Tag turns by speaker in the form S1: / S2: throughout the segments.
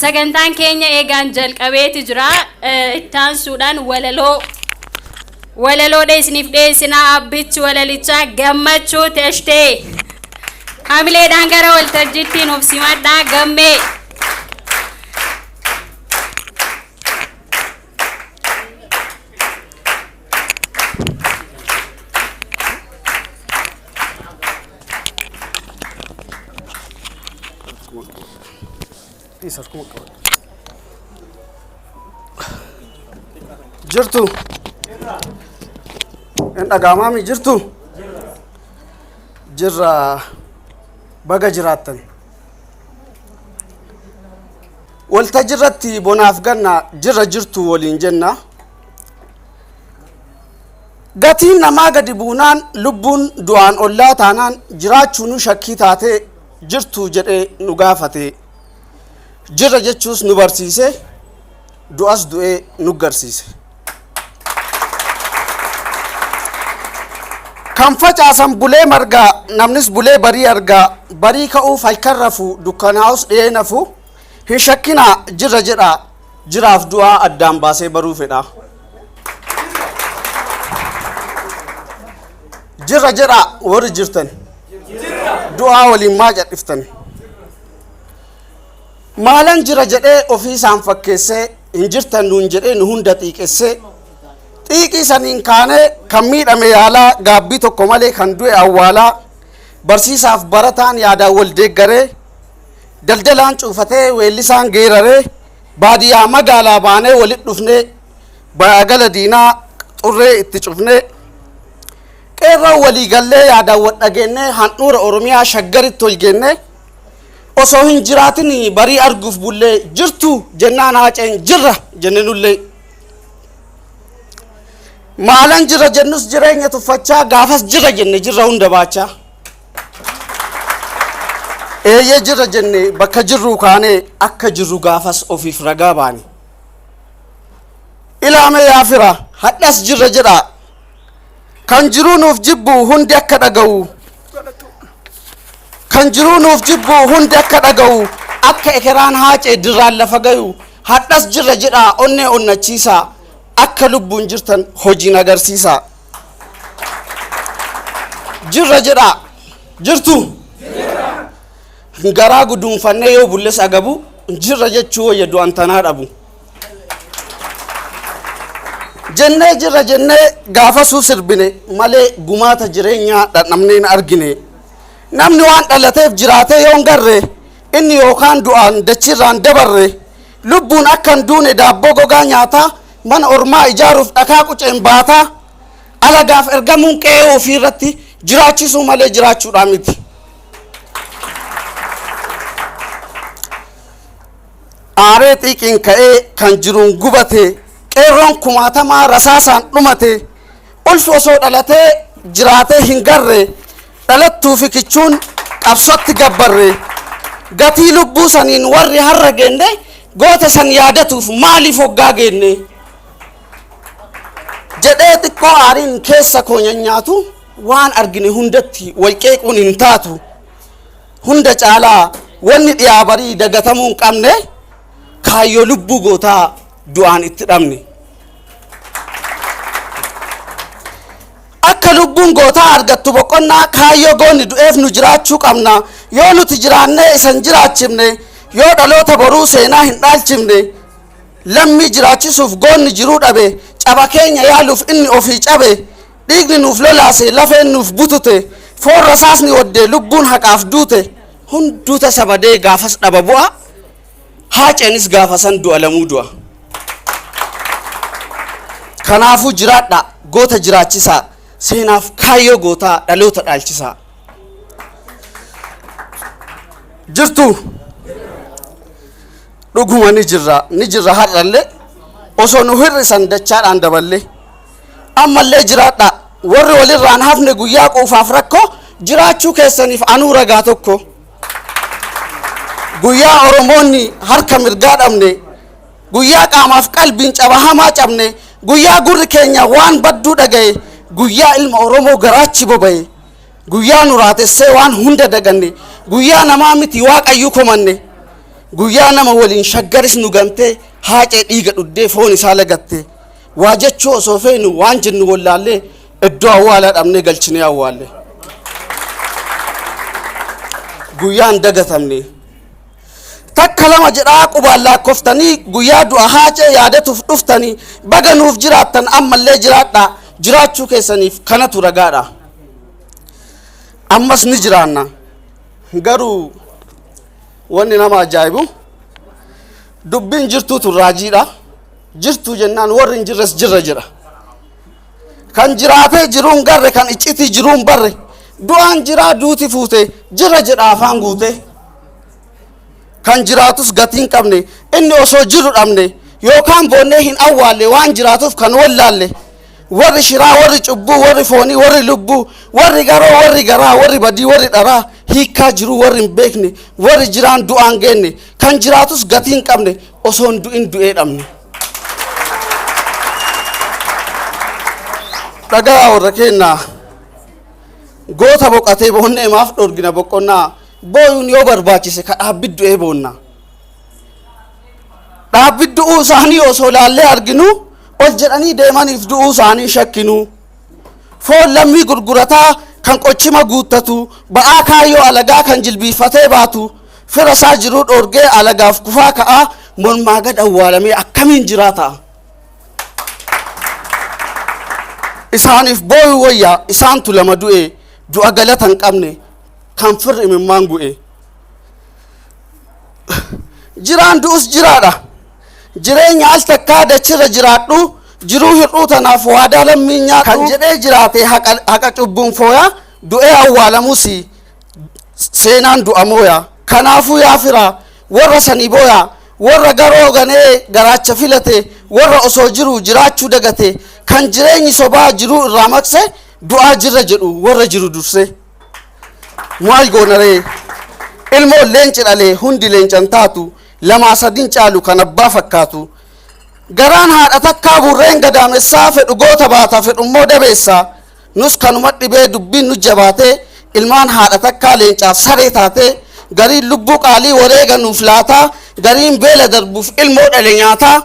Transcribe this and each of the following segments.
S1: Sagantaan keenya eegaan jalqabeeti jira. Eh, Itti aansuudhaan walaloo walaloodha isiniif dhiyeessinaa abbichi walalichaa gammachuu teshtee hamileedhaan gara waltajjiitti nuuf simadhaa gammee.
S2: Isa kuma qaba. Jirtu. Hin dhagaamaami jirtu. Jirra baga jiraattan. Waltajjirratti bonaaf ganna jirra jirtu waliin jenna. Gatiin namaa gadi buunaan lubbuun du'aan ollaa taanaan jiraachuunu shakkii taatee jirtu jedhee nu gaafate. Jirra jechuus nu barsiise, du'as du'ee nu garsiise. Kan facaasan bulee margaa, namnis bulee barii argaa, barii ka'uuf halkan rafu, dukkanaa'us dhiyee nafu. Hin shakkinaa jirra jedhaa jiraaf du'aa addaan baasee baruu fedhaa. Jirra jedhaa warri jirtan du'aa waliin maa cadhiftan. Maalan jira jedhee ofii isaan fakkeessee hin jirtan nuun jedhee nu hunda xiiqessee xiiqii saniin kaanee kan miidhame yaalaa gaabbii tokko malee kan du'e awwaalaa barsiisaaf barataan yaadaan wal deeggaree daldalaan cuufatee weellisaan geeraree baadiyyaa magaalaa baanee walit dhufnee baagala diinaa xurree itti cufnee qeerroo walii gallee yaadaan wal dhageennee handhuura oromiyaa shaggaritti ol geennee osoo hin jiraatin barii arguuf bullee jirtu jennaan haaceen jirra jenne nullee maalan jirra jennus jireenya tuffachaa gaafas jirra jenne jirra hunda baachaa Eeyyee jirra jenne bakka jirruu kaanee akka jirru gaafas ofiif ragaa baane. Ilaamee yaa fira hadhas jirra jedhaa kan jiruu nuuf jibbu hundi akka dhaga'u kan jiruu nuuf jibbu hundi akka dhaga'u akka ekeraan haacee dirraan lafa gayu hadhas jirra jedhaa onnee onnachiisaa akka lubbuun jirtan hojiin agarsiisaa. Jirra jedhaa. Jirtu. Garaa guduunfannee yoo bulles agabu jirra jechuu wayya du'an tanaa dhabu. Jennee jirra jennee gaafasuu sirbine malee gumaata jireenyaa dhandhamnee hin argine. Namni waan dhalateef jiraatee yoo hin garre inni yookaan du'aan dachiirraan dabarre Lubbuun akka hin duune daabboo gogaa nyaataa, mana ormaa ijaaruuf dhakaa quceen baataa, alagaaf ergamuun qe'ee ofii irratti jiraachisuu malee jiraachuudhaa miti. Aaree xiiqiin ka'ee kan jiruun gubate, qeerroon kumaatamaa rasaasaan dhumate, ulfi osoo dhalatee jiraatee hin garre, Dhalattuu fi kichuun qabsotti gabbarre. Gatii lubbuu saniin warri harra geenne goota san yaadatuuf maaliif hoggaa geenne? Jedhee xiqqoo aariin keessa koo nyanyaatu waan argine hundatti wal qeequun hin taatu. Hunda caalaa wanni dhiyaa barii dagatamuu hin qabne kaayyoo lubbuu gootaa du'aan itti dhabne. Akka lubbuun gootaa argattu boqonnaa kaayyoo goonni du'eef nu jiraachuu qabna. Yoo nuti jiraannee isa hin jiraachifne, yoo dhaloota boruu seenaa hin dhaalchifne, lammii jiraachisuuf goonni jiruu dhabe, caba keenya yaaluuf inni ofii cabe, dhiigni nuuf lolaase, lafeen nuuf butute, foon rasaasni wadde, lubbuun haqaaf duute, hunduu tasa badee gaafas dhaba bu'a. Haaceenis gaafa san du'a lamuu du'a. Kanaafuu jiraadhaa, goota jiraachisaa, seenaaf kaayyoo gootaa dhaloota dhaalchisaa. Jirtu dhuguma ni jirra, ni jirra har'allee osoo nu hir'isan dachaadhaan daballee. Ammallee jiraadhaa, warri walirraan hafne guyyaa quufaaf rakkoo jiraachuu keessaniif anuu ragaa tokko. guyyaa oromoonni harka mirgaa dhabne guyyaa qaamaaf qalbiin caba hamaa cabne guyyaa gurri keenya waan badduu dhaga'e guyyaa ilma oromoo garaachi boba'e guyyaa nu raatessee waan hunda daganne guyyaa namaa miti waaqayyuu komanne guyyaa nama waliin shaggaris nu gantee haacee dhiiga dhuddee foon isaa lagatte waa jechuu osoo feenu waan jennu wallaallee Iddoo awwaalaa dhabnee galchinee awwaalle. Guyyaa hin dagatamne. Takka lama jedhaa qubaan laakkoftanii guyyaa du'a haacee yaadatuuf dhuftanii baga nuuf jiraattan ammallee jiraadhaa jiraachuu keessaniif kanatu ragaadha. Ammas ni jiraanna. Garuu wanni nama ajaa'ibu dubbiin jirtuutu raajiidha. Jirtuu jennaan warri hin jirres jirra jira. Kan jiraatee jiruun garre kan iccitii jiruun barre du'aan jiraa duuti fuute jira jedha afaan guute. Kan jiraatus gatii hin qabne inni osoo jiru dhabne yookaan boonnee hin awwaalle waan jiraatuuf kan wallaalle. Warri shiraa warri cubbuu warri foonii warri lubbuu warri garoo warri garaa warri badii warri dharaa hiikkaa jiruu warri hin beekne warri jiraan du'aan geenne kan jiraatus gatii hin qabne osoo hin du'in du'ee dhabne. Dhagaa warra keennaa goota boqatee boonnee maaf dhorgina boqonnaa booyuun yoo barbaachise ka dhaabbiddu'ee boonna. Dhaabbiddu'uu isaanii osoo laallee arginu ol jedhanii deemaniif du'uu isaanii shakkinu. Foon lammii gurgurataa kan qochima guuttatu, ba'aa kaayyoo alagaa kan jilbiiffatee baatu, fira isaa jiruu dhoorgee alagaaf kufaa ka'a, mormaa gad awwaalamee akkamiin jiraata? Isaaniif booyuu wayyaa isaantu lama du'e, du'a galata hin qabne, kan firri imimmaan gu'e. Jiraan du'us jiraadha. Jireenya al takkaa dachirra jiraadhu, jiruu hir'uu tanaaf waadaa lammiin nyaadhu. Kan jedhee jiraate haqa, haqa cubbuun fooya, du'ee awwaalamusi seenaan du'a mooya. Kanaafuu yaa fira, warra sani booya, warra garoo ganee garaacha filate, warra osoo jiru jiraachuu dagate, kan jireenyi sobaa jiruu irraa maqse, du'aa jirra jedhu warra jiru dursee. Maal goonaree? Ilmoon leenci dhale hundi leencan taatu. lamaa sadin caalu kan abbaa fakkaatu garaan haadha takkaa burreen gadaamessaa fedhu goota baata fedhu immoo dabeessa nus kanuma dhibee dubbiin nu jabaatee ilmaan haadha takkaa leencaaf saree taatee gariin lubbuu qaalii wareega nuuf laataa gariin beela darbuuf ilmoo dhale nyaataa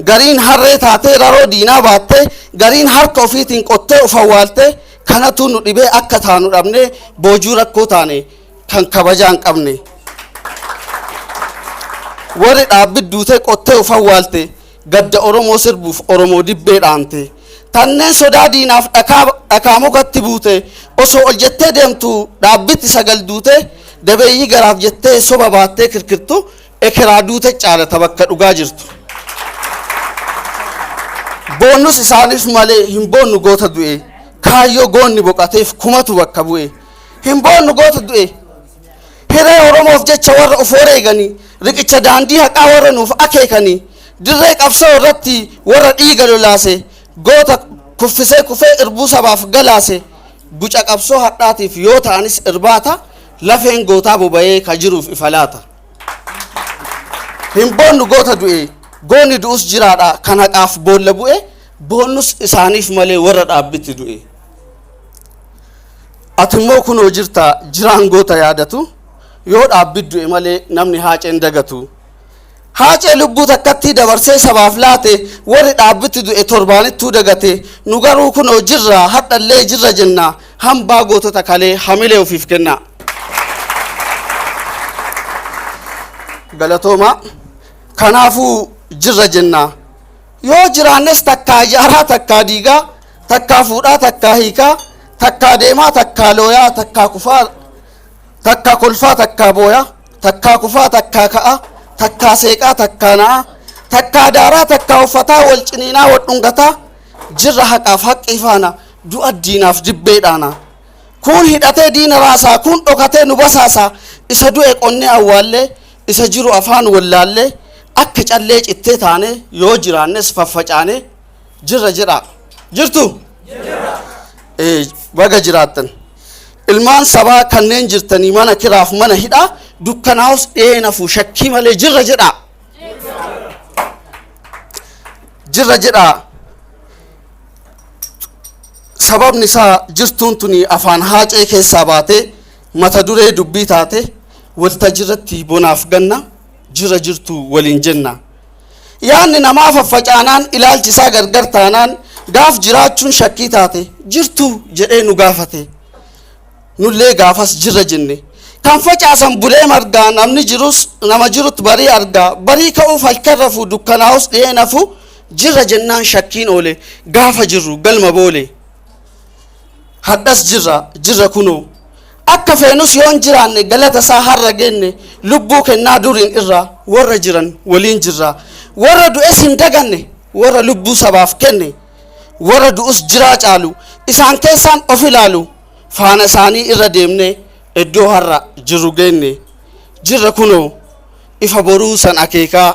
S2: gariin harree taatee raroo diinaa baattee gariin harka ofiitiin qottee of awwaaltee kanatu nu dhibee akka taanu dhabnee boojuu rakkoo taane kan kabajaa hin qabne warri dhaabbi duutee qottee ufan waalte gadda oromoo sirbuuf oromoo dibbee dhaante tanneen sodaa diinaaf dhakaa dhakaa mukatti buute osoo ol jettee deemtu dhaabbitti sagal duute dabeeyyii garaaf jettee soba baattee kirkirtu ekeraa duute caalata bakka dhugaa jirtu. boonnus isaaniif malee hin boonnu goota du'e kaayyoo goonni boqateef kumatu bakka bu'e. hin boonnu goota du'e hiree oromoof jecha warra of wareeganii riqicha daandii haqaa warra nuuf akeekanii dirree qabsoo irratti warra dhiiga lolaase goota kuffisee kufee irbuu sabaaf galaase guca qabsoo hadhaatiif yoo ta'anis irbaata lafeen gootaa boba'ee ka jiruuf ifa laata. hin boonnu goota du'e goonni du'us jiraadha kan haqaaf boolla bu'e boonnus isaaniif malee warra dhaabbitti du'e. Ati immoo kunoo jirta jiraan goota yaadatu yoo dhaabbi du'e malee namni haaceen dagatu. Haacee lubbuu takkattii dabarsee sabaaf laate warri dhaabbitti du'e torbaanittuu dagate nu garuu kunoo jirra hadhallee jirra jenna hambaa gootota kalee hamilee ofiif kenna. Galatooma kanaafuu jirra jenna. Yoo jiraannes takkaa ijaaraa takkaa diigaa, takkaa fuudhaa takkaa hiikaa, takkaa deemaa takkaa looyaa, takkaa kufaa takkaa kolfaa takkaa booyaa, takkaa kufaa takkaa ka'aa, takkaa seeqaa takkaa na'aa, takkaa daaraa takkaa uffataa wal ciniinaa wal dhungataa, jirra haqaaf haqqii faana du'a diinaaf dibbee dhaanaa. Kuun hidhatee diina raasaa, kuun dhokatee nu basaasaa, isa du'e qonnee awwaallee, Isa jiru afaan wallaallee akka callee cittee taanee yoo jiraannes faffacaanee jirra jedhaa. Jirtu? Ee, baga jiraattan. Ilmaan sabaa kanneen jirtanii mana kiraaf mana hidhaa dukkanaa'us dhiyee nafu shakkii malee jirra jedhaa. Jirra jedhaa. Sababni isaa jirtuun tuni afaan haacee keessaa baatee mata duree dubbii taate waltajirratti bonaaf ganna jira jirtu waliin jenna. Yaanni namaa faffacaanaan ilaalchi isaa gargar taanaan gaaf jiraachuun shakkii taate jirtu jedhee nu gaafate. Nullee gaafas jirra jenne. Kan facaasan bulee margaa namni jirus nama jirutti barii argaa barii ka'uuf halkan rafuu dukkanaa'us dhiyee nafuu jirra jennaan shakkiin oole gaafa jirru galma boole. Hadhas jirra, jirra kunoo. Akka feenus yoo hin jiraanne galata isaa har'a geenne lubbuu kennaa duriin irra warra jiran waliin jirra. Warra du'es hin daganne warra lubbuu sabaaf kenne. Warra du'us jiraa caalu isaan keessaan of ilaalu faana isaanii irra deemne iddoo har'a jirru geenne. Jirra kunoo ifa boruu san akeekaa.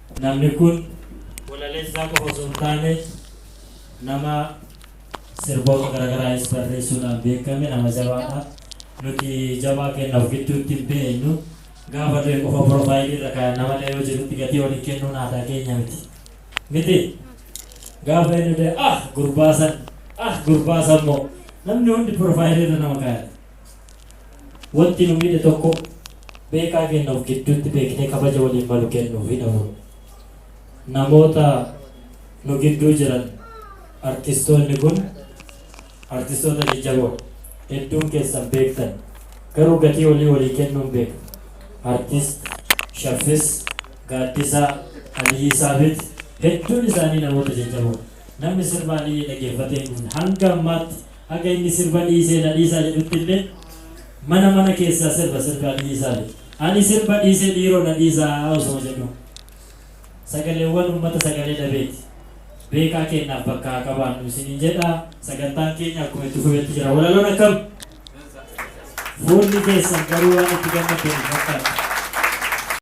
S3: Namni kun walaleessaa qofa osoo hin taane nama sirboota garagaraayis barreessuudhaan beekame nama jabaadha. Nuti jabaa keenya of gidduutti hin beeknu. Gaafa du'e qofa profile irra kaa'anna malee yoo jirutti gatii ol hin kennuun aadaa keenya miti. Miti? Gaafa inni du'e ah gurbaa san ah gurbaa san moo namni hundi profile irra nama kaaya. Wanti nu miidhe tokko beekaa keenya of gidduutti beeknee kabaja waliin malu kennuufii dhabuun. Namoota nu gidduu jiran artistoonni kun artistoota jajjaboodha. Hedduun keessan beektan. Garuu gatii olii walii kennuun beekna. Artist Shaffis, Gaaddisaa, Aliyyii Saabit hedduun isaanii namoota jajjaboodha. Namni sirba Aliyyii dhageeffatee hin dhumne. Hanga ammaatti. Haga inni sirba dhiisee na dhiisaa jedhuttillee mana mana keessaa sirba sirbaa dhiisaa jedha. Ani sirba dhiisee dhiiroo na dhiisaa osoo jedhuu. Sagaleewwan ummata sagalee dhabeeti. Beekaa keennaaf bakka haa qabaannu isiniin jedha. Sagantaan keenya akkuma itti fufetti jira. Walaloon akkam? Fuulli keessan garuu waan itti gammaddan hin fakkaatu.